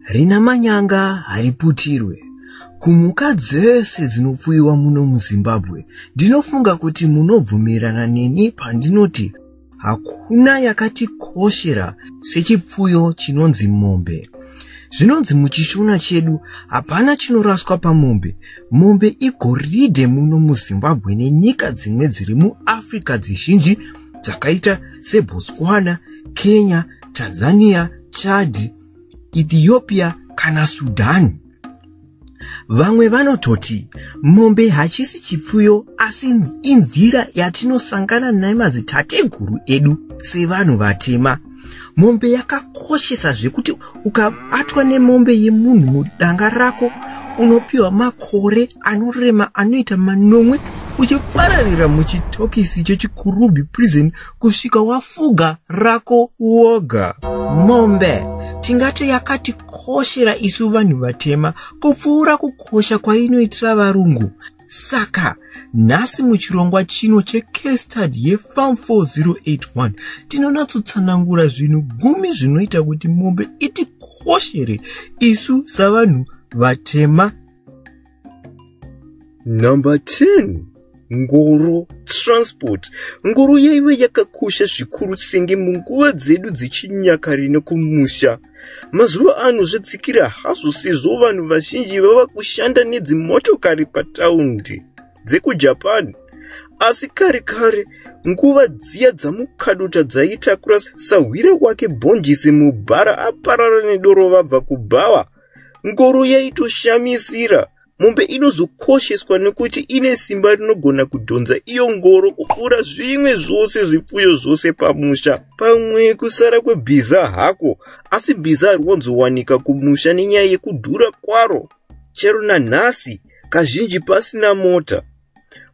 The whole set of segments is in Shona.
rina manyanga hariputirwe kumhuka dzese dzinopfuyiwa muno muzimbabwe ndinofunga kuti munobvumirana neni pandinoti hakuna yakatikoshera sechipfuyo chinonzi mombe zvinonzi muchishona chedu hapana chinoraswa pamombe mombe igoridhe muno muzimbabwe nenyika dzimwe dziri muafrica dzizhinji dzakaita sebotswana kenya tanzania chad ethiopia kana sudan vamwe vanototi mombe hachisi chipfuyo asi inzira yatinosangana nemadzitateguru edu sevanhu vatema mombe yakakoshesa zvekuti ukabatwa nemombe yemunhu mudanga rako unopiwa makore anorema anoita manomwe uchipararira muchitokisi chechikurubi prison kusvika wafuga rako woga mombe tingati yakatikoshera isu vanhu vatema kupfuura kukosha kwainoitira varungu Saka nhasi muchirongwa chino checastard yefarm 4081 tinonatsotsanangura zvinhu gumi zvinoita kuti mombe itikoshere isu savanhu vatema. Number 10 ngoro transport ngoro yaive yakakosha zvikuru senge munguva dzedu dzechinyakare nekumusha Mazuva ano zvadzikira hazvo sezvo vanhu vazhinji vava kushanda nedzimotokari pataundi dzekujapan asi kare kare nguva dziya dzamukadota dzaitakura sahwira wake bhonjisi mubhara aparara nedoro vabva kubhawa ngoro yaitoshamisira mombe inozokosheswa nekuti ine simba rinogona kudhonza iyo ngoro kupfuura zvimwe zvose zvipfuyo zvose pamusha pamwe kusara kwebhiza hako asi bhiza hari wanzowanika kumusha nenyaya yekudhura kwaro chero nanhasi kazhinji pasina mota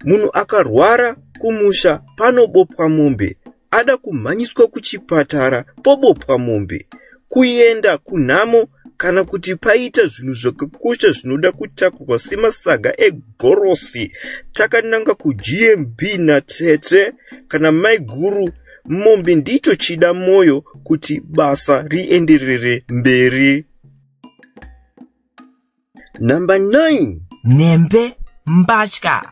munhu akarwara kumusha panobopwa mombe ada kumhanyiswa kuchipatara pobopwa mombe kuenda kunhamo kana kuti paita zvinhu zvakakosha zvinoda kutakurwa semasaga egorosi takananga kugmb natete kana maiguru mombe ndicho chida mwoyo kuti basa rienderere mberi number 9 nhembe mbatya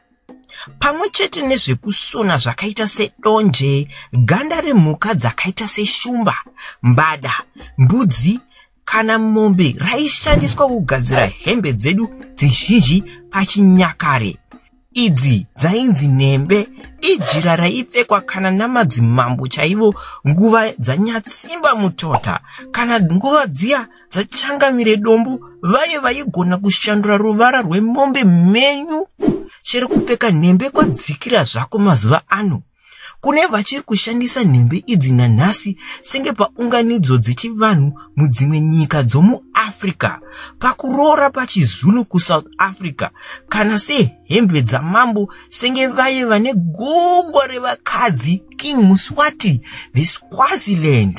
pamwe chete nezvekusona zvakaita sedonje ganda remhuka dzakaita seshumba mbada mbudzi kana mombe raishandiswa kugadzira hembe dzedu dzizhinji pachinyakare Idzi dzainzi nhembe ijira raipfekwa kana namadzimambo chaivo nguva dzanyatsimba mutota kana nguva dziya dzachangamire dombo vaye vaigona kushandura ruvara rwemombe mhenyu chero kupfeka nhembe kwadzikira zvako mazuva ano Kune vachiri kushandisa nhembe idzi nanhasi senge paunganidzo dzechivanhu mudzimwe nyika dzomuAfrica, pakuroora pachiZulu kuSouth Africa, kana sehembe dzamambo senge vaye vane gumbo revakadzi King Muswati veSwaziland.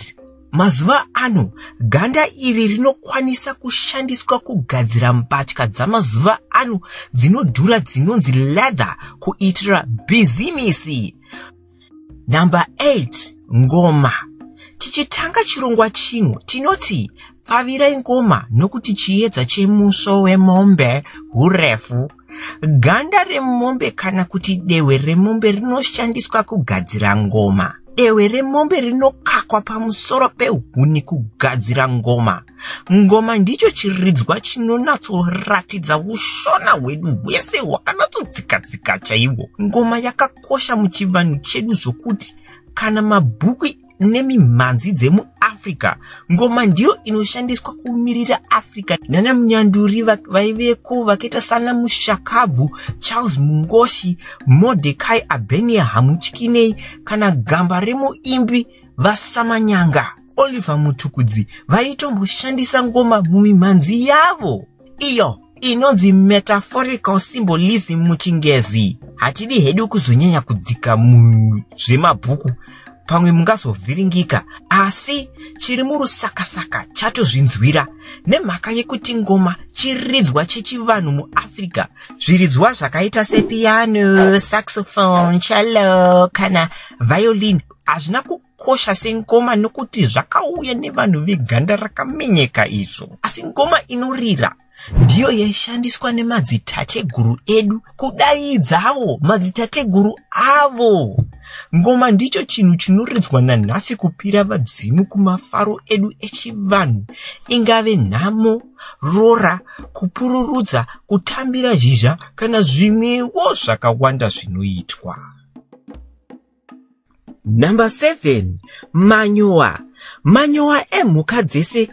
Mazuva ano, ganda iri rinokwanisa kushandiswa kugadzira mbatya dzamazuva ano dzinodhura dzinonzi leather kuitira bhizimisi. Number 8, ngoma. Tichitanga chirongwa chino, tinoti pfavira ingoma nokuti chiedza chemusvo wemombe hurefu. Ganda remombe kana kuti dehwe remombe rinoshandiswa kugadzira ngoma. Dehwe remombe rinokakwa pamusoro pehuni kugadzira ngoma. Ngoma ndicho chiridzwa chinonatsoratidza ushona hwedu hwese hwakanatsodzikadzika chaiwo. Ngoma yakakosha muchivanhu chedu zvokuti kana mabhuku nemimhanzi dzemuafrica ngoma ndiyo inoshandiswa kumirira africa nana munyanduri vaiveko vakaita sana mushakabvu charles mungoshi modekai abenia hamutyinei kana gamba remuimbi vasamanyanga oliver mutukudzi vaitomboshandisa ngoma mumimhanzi yavo iyo inonzi metaphorical symbolism muchingezi hatidi hedu kuzonyanya kudzika muzvemabhuku pamwe mungazovhiringika asi chiri murusakasaka chatozvinzwira nemhaka yekuti ngoma chiridzwa chechivanhu muafrica zviridzwa zvakaita sepiano saxophone chalo kana violin hazvina zvakakosha sengoma nokuti zvakauya nevanhu veganda rakamenyeka izvo asi ngoma inorira ndiyo yaishandiswa nemadzitateguru edu kudaidzawo madzitateguru avo ngoma ndicho chinhu chinoridzwa nanhasi kupira vadzimu kumafaro edu echivanhu ingave nhamo rora kupururudza kutambira zhizha kana zvimwewo zvakawanda zvinoitwa number 7 manyowa manyowa emhuka dzese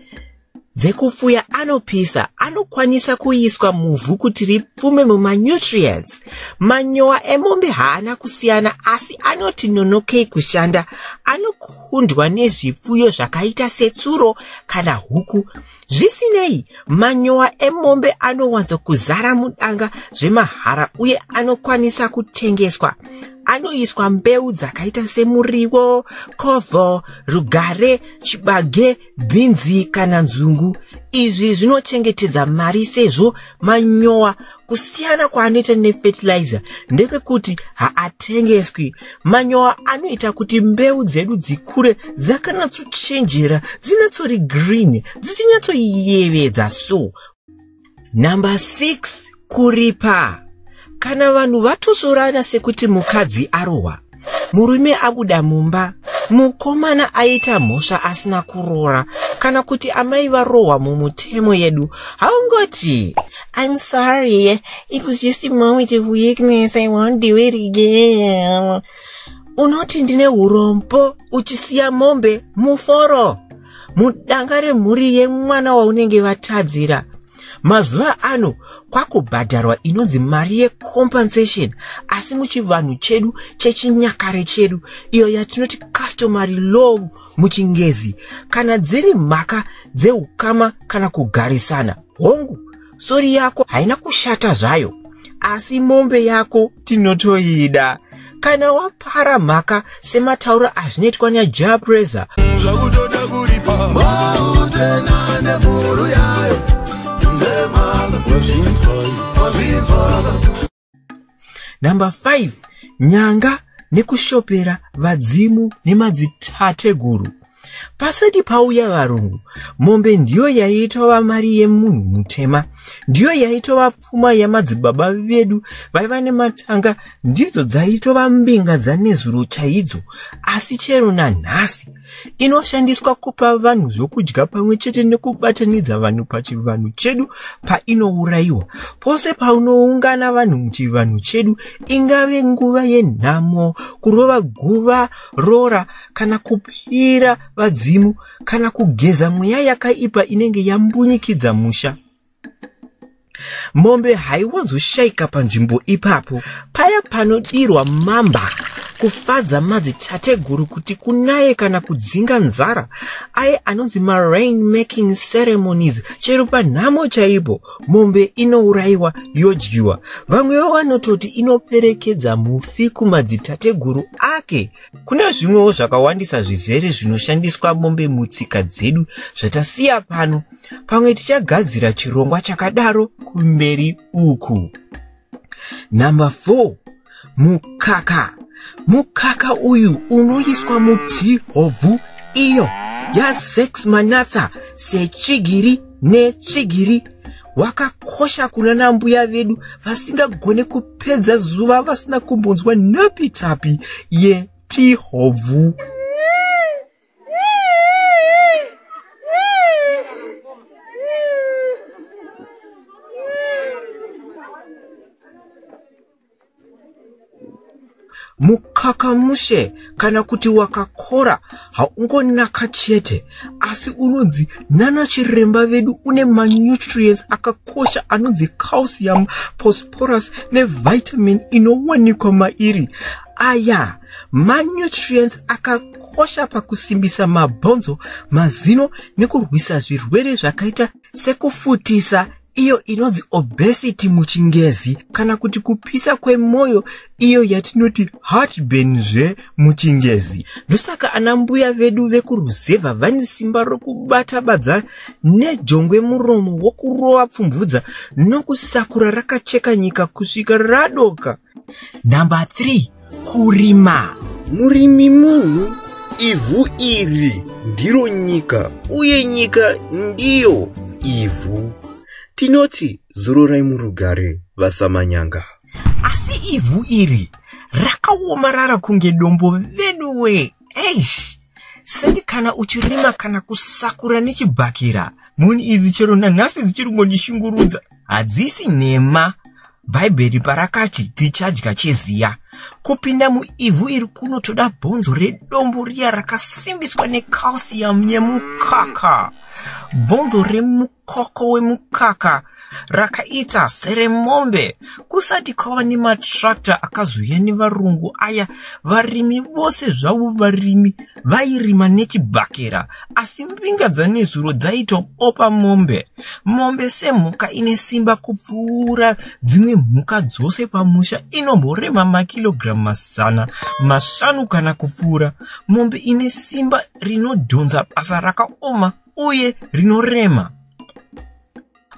dzekupfuya anopisa anokwanisa kuiswa muvhu kuti ripfume mumanutrients manyowa emombe haana kusiyana asi anoti nonokei kushanda anokundwa nezvipfuyo zvakaita setsuro kana huku Zvisinei, manyowa emombe anowanzo kuzara mudanga zvemahara uye anokwanisa kutengeswa. Anoiswa mbeu dzakaita semuriwo, kovho, rugare, chibage, bhinzi kana nzungu. Izvi zvinochengetedza mari sezvo manyowa kusiyana kwaanoita nefetilizer ndekwekuti haatengeswi manyowa anoita kuti mbeu dzedu dzikure dzakanatsochenjera dzinatsori green dzichinyatsoyevedza so number 6 kuripa kana vanhu vatozorana sekuti mukadzi arohwa murume abuda mumba mukomana aita mhosva asina kuroora kana kuti amai varohwa mumutemo yedu haungoti im sorry it was just a moment of weakness i won't do it again unoti ndine urombo uchisiya mombe muforo mudanga remhuri yemwana waunenge vatadzira mazuva ano kwakubhadharwa inonzi mari yecompensation asi muchivanhu chedu chechinyakare chedu iyo yatinoti customary law muchingezi kana dziri mhaka dzeukama kana kugarisana hongu sori yako haina kushata zvayo asi mombe yako tinotoida kana wapara mhaka sematauro azvinoitwa nyajaa presa zvakutoda kuripa mauzena nemhuru yayo ndemhaka wazvinzwaka number 5 nyanga nekushopera vadzimu nemadzitateguru pasati pauya varungu mombe ndiyo yaitova mari yemunhu mutema ndiyo yaitova pfuma yamadzibaba vedu vaiva nematanga ndidzo dzaitova mbinga dzanezuro chaidzo asi chero nanhasi inoshandiswa kupa vanhu zvokudya pamwe chete nekubatanidza vanhu pachivanhu chedu painourayiwa pose paunoungana vanhu muchivanhu chedu ingave nguva yenhamo kurova guva rora kana kupira vadzimu kana kugeza mweya yakaipa inenge yambunyikidza musha mombe haiwanzoshaika panzvimbo ipapo paya panodirwa mamba kufadza madzitateguru kuti kunaye kana kudzinga nzara aye anonzi marain making ceremonies chero panhamo chaipo mombe inourayiwa yodyiwa vamwewo vanototi inoperekedza mufi kumadzitateguru ake Kuna zvimwewo zvakawandisa zvizere zvinoshandiswa mombe mutsika dzedu zvatasiya pano. Pamwe tichagadzira chirongwa chakadaro kumberi uku. Number 4. Mukaka. Mukaka uyu unoiswa muti hobvu iyo yasex manatsa sechigiri netsvigiri wakakosha kuna nambuya vedu vasingagone kupedza zuva vasina kumbonzwa nhopi tapi yetihobvu mukakamushe kana kuti wakakora haungonaka chete asi unonzi nana chiremba vedu une manutrients akakosha anonzi calcium posporus nevitamin inowanikwa mairi aya manutrients akakosha pakusimbisa mabhonzo mazino nekurwisa zvirwere zvakaita sekufutisa iyo inonzi obesity muchingezi kana kuti kupisa kwemwoyo iyo yatinoti heartburn zve muchingezi ndosaka ana mbuya vedu vekuruzevha vane simba rokubata badza nejongwe muromo wokurova pfumvudza nokusakura rakacheka nyika kusvika radoka number 3 kurima murimi munhu ivhu iri ndiro nyika uye nyika ndiyo ivhu tinoti zororai murugare vasamanyanga asi ivhu iri rakaomarara kunge dombo venuwee eish sendi kana uchirima kana kusakura nechibhakira mhuni idzi chero nanhasi dzichiri kungondishungurudza hadzisi nhema bhaibheri parakati tichadya cheziya kupinda muivhu iri kunotoda bhonzo redombo riya rakasimbiswa necalcium yemukaka bhonzo remukaka koko wemukaka rakaita seremombe kusati kwava nematrakta akazouya nevarungu aya varimi vose zvavo varimi vairima nechibhakera asi mbinga dzanezuro dzaitobopa mombe mombe semhuka ine simba kupfuura dzimwe mhuka dzose pamusha inomborema makirogiramu mazana mashanu kana kupfuura mombe ine simba rinodhonza basa rakaoma uye rinorema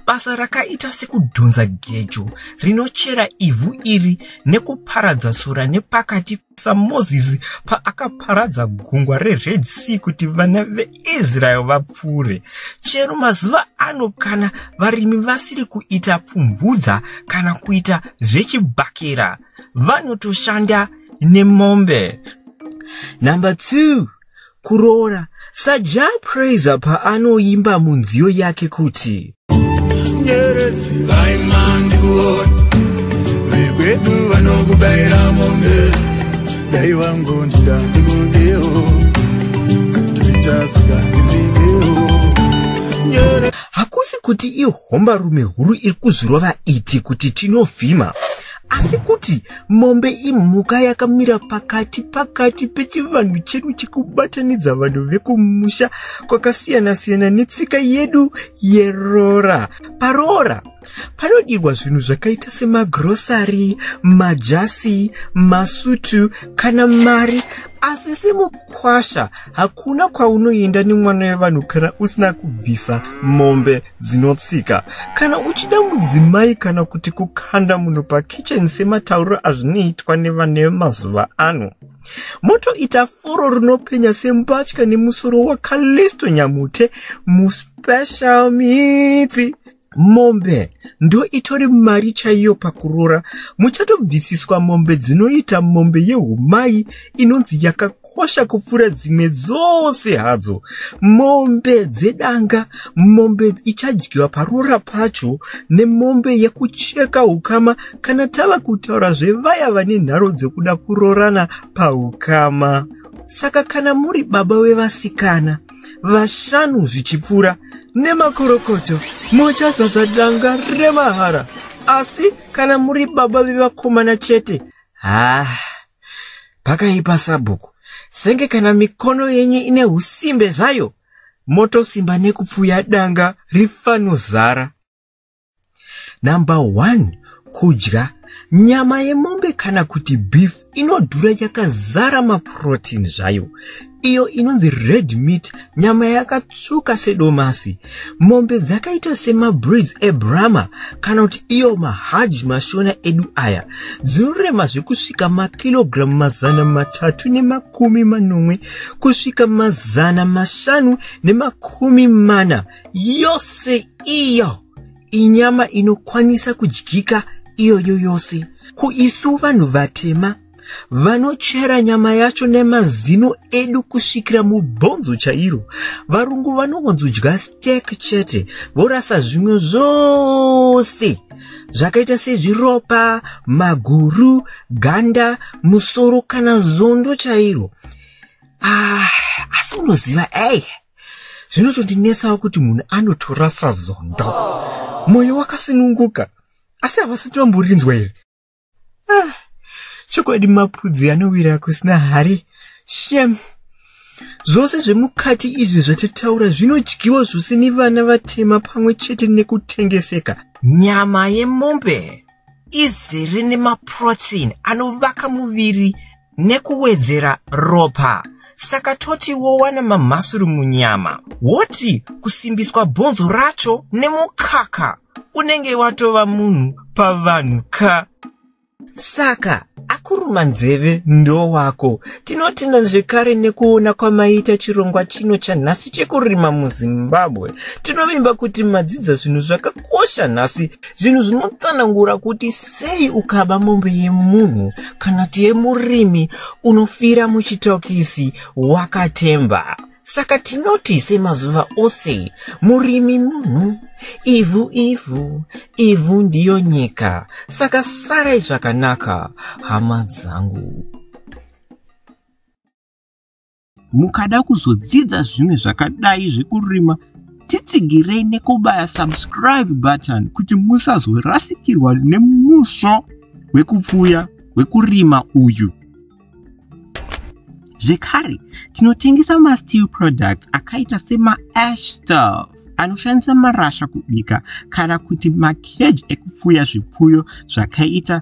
basa rakaita sekudhonza gejo rinochera ivhu iri nekuparadza sora nepakati samozisi paakaparadza gungwa rered sea kuti vana veisrael vapfuure chero mazuva ano kana varimi vasiri kuita pfumvudza kana kuita zvechibhakera vanotoshanda nemombe number two kuroora saja praiser paanoimba munziyo yake kuti nyeredzi vaimandikuona vekwedu vanokubaira mombe dai wangu ndida ndikundewo toitatsika ndizivewo hakusi kuti ihombarume huru iri kuzvirova iti kuti tinovhima asi kuti mombe imhuka yakamira pakati pakati pechivanhu chedu chekubatanidza vanhu vekumusha kwakasiyana-siyana netsika yedu yeroora paroora panodirwa zvinhu zvakaita semagrosari majasi masutu kana mari asi semukwasha hakuna kwaunoenda nemwana wevanhu kana usina kubvisa mombe dzinotsika kana uchida mudzimai kana kuti kukanda munhu pakitchen sematauriro azvinoitwa nevane vemazuva ano motoita furo rinopenya sembatya nemusoro wakalisto nyamute muspecial miti mombe ndo itori mari chaiyo pakurora muchatobvisiswa mombe dzinoita mombe yehumai inonzi yakaku dzakakosha kupfuura dzimwe dzose hadzo mombe dzedanga mombe ichadyiwa paroora pacho nemombe yekucheka ukama kana tava kutaura zvevaya vane nharo dzekuda kuroorana paukama saka kana muri baba wevasikana vashanu zvichipfuura nemakorokoto muchazadza danga remahara asi kana muri baba vevakomana chete haa ah. pakaipa sabhuku senge kana mikono yenyu ine usimbe zvayo motosimba nekupfuya danga rifanozara number one kudya nyama yemombe kana kuti beef inodhura yakazara maprotein zvayo iyo inonzi red meat nyama yakatsvuka sedomasi mombe dzakaita semabreeds ebrama kana kuti iyo mahaj mashona edu aya dzinorema zvekusvika makirogiramu mazana matatu nemakumi manomwe kusvika mazana mashanu nemakumi mana yose iyo inyama inokwanisa kudyika iyoyo yose kuisu vanhu vatema vanochera nyama yacho nemazino edu kusvikira mubhonzo chairo varungu vanongonzodya stek chete vorasa zvimwe zvose zvakaita sezviropa maguru ganda musoro kana zondo chairo ah, asi unoziva ei zvinotondinetsawo kuti munhu anotorasa zondo mwoyo wakasununguka asi havasi tinomborinzwa here ah, chokwadi mapudzi anowira kusina hari shem zvose zvemukati izvi zvatitaura zvinodyiwa zvose nevana vatema pamwe chete nekutengeseka nyama yemombe izere nemaprotein anovaka muviri nekuwedzera ropa saka toti wowana mamhasuru munyama woti kusimbiswa bhonzo racho nemukaka unenge watova munhu pavanhu ka saka akuruma nzeve ndo wako tinotenda zvekare nekuona kwamaita chirongwa chino chanhasi chekurima muzimbabwe tinovimba kuti madzidza zvinhu zvakakosha nhasi zvinhu zvinotsanangura kuti sei ukaba mombe yemunhu kana kuti yemurimi unofira muchitokisi wakatemba saka tinoti semazuva ose murimi munhu ivhu ivhu ivhu ndiyo nyika saka sarai zvakanaka hama dzangu mukada kuzodzidza zvimwe zvakadai zvekurima titsigirei nekubaya subscribe button kuti musazorasikirwa nemusvo wekupfuya wekurima uyu zvekare tinotengesa masteel products akaita semaash staff anoshandisa marasha kubika kana kuti macage ekupfuya zvipfuyo zvakaita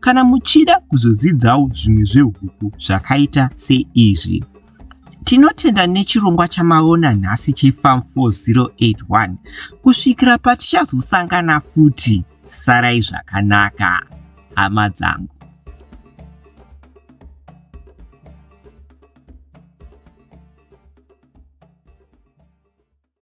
kana muchida kuzodzidzawo zvimwe zvehuku zvakaita seizvi tinotenda nechirongwa chamaona nhasi chefarm 4081 kusvikira patichazosangana futi sarai zvakanaka hama dzangu